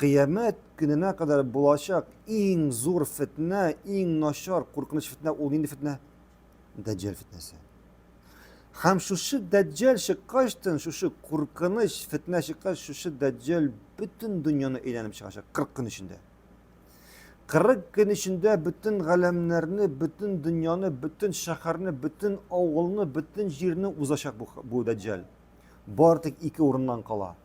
Кыямәт көненә кадәр булачак иң зур фетнә, иң начар, куркыныч фетнә ул нинди фетнә? Дәҗҗәл фетнәсе. Һәм шушы дәҗҗәл чыккачтын, шушы куркыныч фетнә чыккач, шушы дәҗҗәл бөтен дөньяны әйләнеп чыгачак 40 көн эчендә. 40 көн эчендә бөтен галәмнәрне, бөтен дөньяны, бөтен шәһәрне, бөтен авылны, бөтен җирне узачак бу, бу дәҗҗәл. Бар тик ике урыннан кала.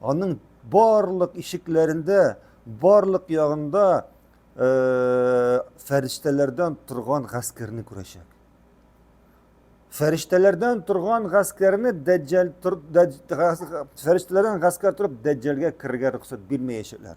Аның барлык ишекләрендә, барлык ягында э, фәрештәләрдән торган гаскәрне күрәчәк. Фәрештәләрдән торган гаскәрне дәҗҗәл тор, дәҗ, фәрештәләрдән гаскәр торып дәҗҗәлгә керергә рөхсәт бирмәячәкләр.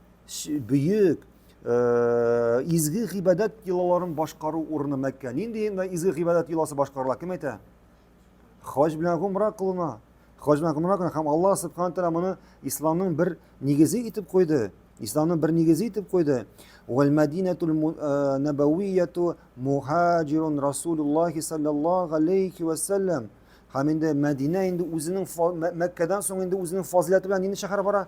бөек э, изге гыйбадәт йолаларын башкару урыны Мәккә. Нинди изге гыйбадәт йоласы башкарыла? Кем әйтә? Хаҗ белән гомра кылына. Хаҗ белән гомра кылына һәм Аллаһ субхана тәгалә моны исламның бер нигезе итеп куйды. Исламның бер нигезе итеп куйды. Вал Мәдинәтул э, Набавияту мухаҗирун Расулуллаһи саллаллаһу алейхи ва саллям. Һәм инде Мәдинә инде үзенең Мәккәдән соң инде үзенең фазиләте белән нинди шәһәр бара?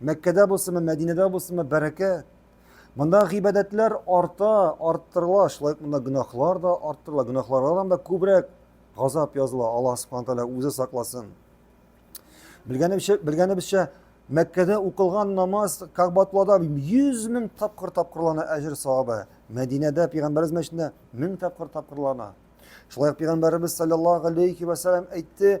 Мәккәдә булсынмы, Мәдинәдә булсынмы, бәрәкә. Монда гыйбадәтләр арта, арттырыла, шулай ук монда гөнаһлар да арттырыла, гөнаһлардан да күбрәк газап языла. Аллаһ Субхану тәгалә үзе сакласын. Белгәнебезчә, белгәнебезчә Мәккәдә укылган намаз Кагбатуллада 100 мең тапкыр тапкырлана әҗер савабы. Мәдинәдә пәйгамбәрбез мәчетендә 1000 тапкыр тапкырлана. Шулай ук пәйгамбәрбез саллаллаһу алейхи ва саллям әйтте,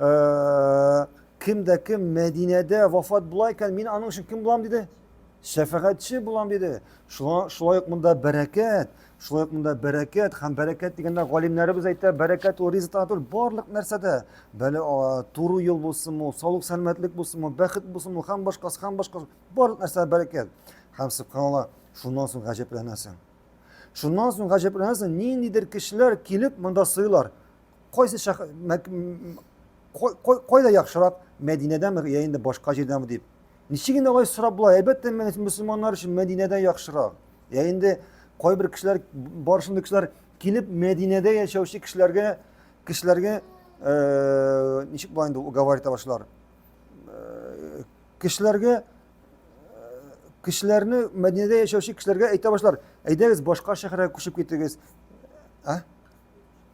Ә, кем дә кем Мәдинәдә вафат була икән, мин аның өчен кем булам диде? Шәфәгатьче булам диде. Шулай, шулай ук монда бәрәкәт, шулай ук монда бәрәкәт һәм бәрәкәт дигәндә галимнәребез әйтә, бәрәкәт ул ризык түгел, барлык нәрсәдә. Бәле туры юл булсын ул, саулык сәламәтлек булсын ул, бәхет булсын ул, һәм башкасы, һәм башкасы, барлык нәрсә бәрәкәт. Һәм субханалла, шуннан соң гаҗәпләнәсең. Шуннан соң гаҗәпләнәсең, ниндидер кешеләр килеп монда сыйлар. Кайсы шәх... мәк- м- кай- кай- кайда яхшырак, Мәдинәдәме я инде башка җирдәме дип. Ничек инде алай сорап була? Әлбәттә, мө- мөселманнар өчен Мәдинәдә яхшырак. Я инде кайбер кешеләр, бар шундый кешеләр килеп Мәдинәдә яшәүче кешеләргә кешеләргә э, ничек була инде уговаривать итә башлар. Э, Кешеләргә кешеләрне Мәдинәдә яшәүче кешеләргә әйтә башлар. Әйдәгез башка шәһәргә күчеп китегез. А?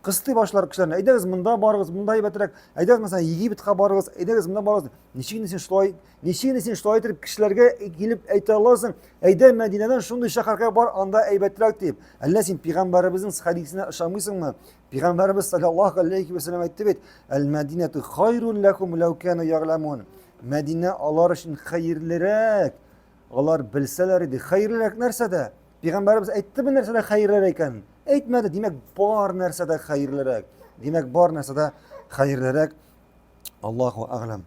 кыстый башлар кешеләрне әйдәгез монда барыгыз монда әйбәтрәк әйдәгез мәсәлән египетка барыгыз әйдәгез монда барыгыз ничек инде син шулай ничек инде син шулай итеп кешеләргә килеп әйтә аласың әйдә мәдинәдән шундый шәһәргә бар анда әйбәтрәк дип әллә син пигамбәребезнең хәдисенә ышанмыйсыңмы пигамбәребез саллаллаху алейхи вәсәләм әйтте бит әл мәдинәту хайрун ләкум ләү кәну ягламун мәдинә алар өчен хәерлерәк алар белсәләр иде хәерлерәк нәрсәдә Пәйгамбәребез әйтте бу нәрсәдә хәерлерәк икән. Әйтмәде, димәк, бар нәрсәдә хәерлерәк. Димәк, бар нәрсәдә хәерлерәк. Аллаһу әгълам.